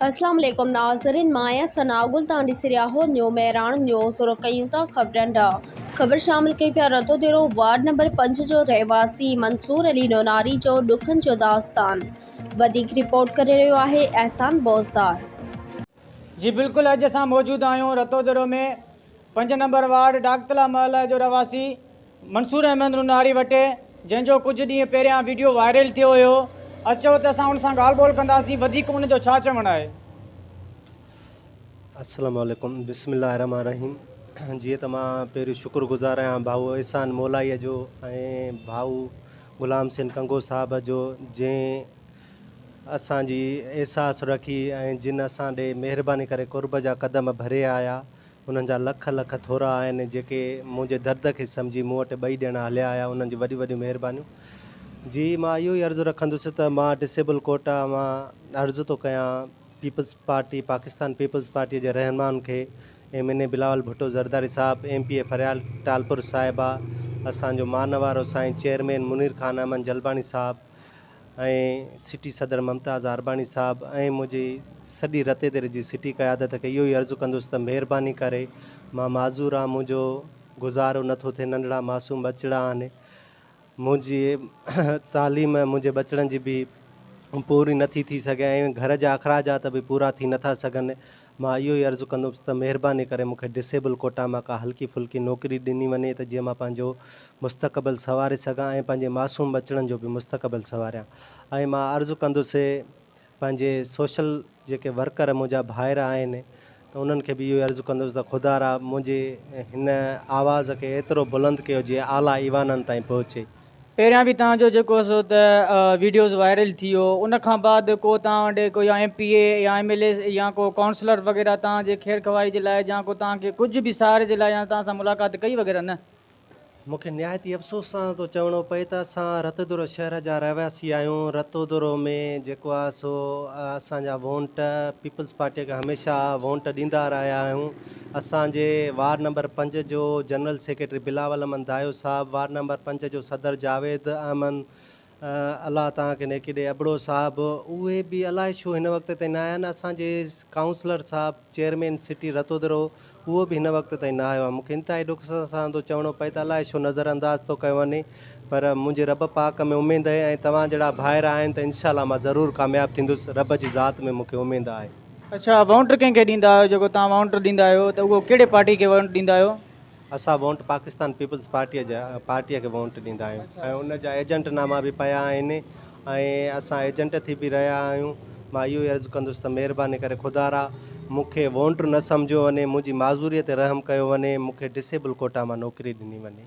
اسلام عليڪم ناظرين مان آهيان ثناء گل توهان ڏسي رهيا آهو نيو مهراڻ نيوز شروع ڪيون ٿا خبرن ڏانهن خبر شامل ڪيون پيا رتو ديرو وارڊ نمبر پنج جو رهواسي منصور علي نوناري جو ڏکن جو داستان وڌيڪ رپورٽ ڪري رهيو آهي احسان بوزدار. جي بلڪل اڄ اسان موجود آهيون رتو ديرو ۾ پنج نمبر وارڊ ڊاگتلا محله جو رهواسي منصور احمد نوناري وٽ جنهن جو ڪجهه ڏينهن پهريان ويڊيو وائرل ٿيو هيو اچو ته اسان ان سان ڳالهه ٻولهه ڪنداسين وڌيڪ ان جو ڇا چوڻ آهي. السلام عليڪم بسم الله الرحمٰن الرحيم جيئن ته مان پهريون شڪر گذار آهيان ڀائو احسان مولائيء جو ۽ ڀائو غلام سين ڪنگو صاحب جو جنهن اسان جي احساس رکي ۽ جن اسان ڏي مهرباني ڪري قرب جا قدم ڀريا آيا انهن جا لک لک ٿورا آهن جيڪي منهنجي درد کي سمجهي مون وٽ ٻئي ڏيڻ هليا آيا انهن جون وڏيون وڏيون مهربانيون جي مان اهو ئي عرض رکندس ته مان ڊسيبل ڪوٽا مان عرض ٿو ڪيان peoples party Pakistan peoples party جي رهنمائن کي M N A Bilawal Bhutto Zardari صاحب M P A Faryal Talpur صاحبه اسان جو مان وارو سائين چيئرمين منير خان احمد جلباڻي صاحب ۽ سٽي صدر ممتاز عارباڻي صاحب ۽ منهنجي سڄي رتيدر جي سٽي قيادت کي اهو ئي عرض ڪندس ته مهرباني ڪري مان معذور آهيان منهنجو گذارو نه ٿو ٿئي ننڍڙا معصوم ٻچڙا آهن منهنجي تعليم منهنجي ٻچڙن جي به پوري نه ٿي ٿي سگهي ۽ گهر جا اخراجات به پورا ٿي نه ٿا سگهن مان اهو ئي عرض ڪندوس ته مهرباني ڪري مون کي ڊسيبل ڪوٽا مان ڪا هلڪي ڦلڪي نوڪري ڏني وڃي ته جيئن مان پنهنجو مستقبل سنواري سگهان ۽ پنهنجي معصوم ٻچڙن جو به مستقبل سنواريان ۽ مان عرض ڪندوس سي پنهنجي سوشل جيڪي ورڪر منهنجا ڀائر آهن ته انهن کي به اهو ئي عرض ڪندوس ته خدارا منهنجي هن آواز کي ايترو بلند ڪيو جيئن اعليٰ ايوانن تائين پهچي. پهريان به توهان جو جيڪو سو ته ويڊيوز وائرل ٿي ويو ان کان بعد ڪو توهان وٽ ڪو يا ايم پي اي يا ايم ايل اي يا ڪو ڪائونسلر وغيره توهان جي خير خواهي جي لاء يا ڪو توهان کي ڪجهه به سهاري جي لاء يا توهان سان ملاقات ڪئي وغيره نه؟ مون کي نهايت ئي افسوس سان ٿو چوڻو پئي ته اسان رتودورو شهر جا رهواسي آهيون. رتودورو ۾ جيڪو آهي سو اسان جا وونٽ پيپلز پارٽيء کي هميشه وونٽ ڏيندا رهيا آهيون. اسان جي وارڊ نمبر پنج جو general secretary Bilawal Ahmed Dayo sahib, ward number پنج جو صدر جاويد احمد الله تان کي نيڪي ڏي ابڙو صاحب اهي به الائي ڇو هن وقت تائين نه آيا آهن، اسان جي ڪائونسلر صاحب چيئرمين سٽي رتودرو اهو به هن وقت تائين نه آيو آهي، مونکي انتهائي ڏک سان ٿو چوڻو پئي ته الائي ڇو نظر انداز ٿو ڪيو وڃي پر منهنجي رب پاڪ ۾ اميد اهي ۽ توهان جهڙا ڀائر آهن ته انشاء الله مان ضرور ڪامياب ٿيندس رب جي ذات ۾ مونکي اميد آهي. اڇا وونٽ ڪنهن کي ڏيندا آهيو جيڪو توهان وونٽ ڏيندا آهيو ته اهو ڪهڙي پارٽي کي وونٽ ڏيندا آهيو؟ اسان وونٽ پاڪستان پيپلز پارٽيء جا پارٽيء کي وونٽ ڏيندا آهيون ۽ ان جا ايجنٽ ناما به پيا آهن ۽ اسان ايجنٽ ٿي به رهيا آهيون مان اهو ئي عرض ڪندس ته مهرباني ڪري خدارا مون کي وونٽر نه سمجهيو وڃي منهنجي معذوريء تي رحم ڪيو وڃي مون کي ڊسيبل ڪوٽا مان نوڪري ڏني وڃي.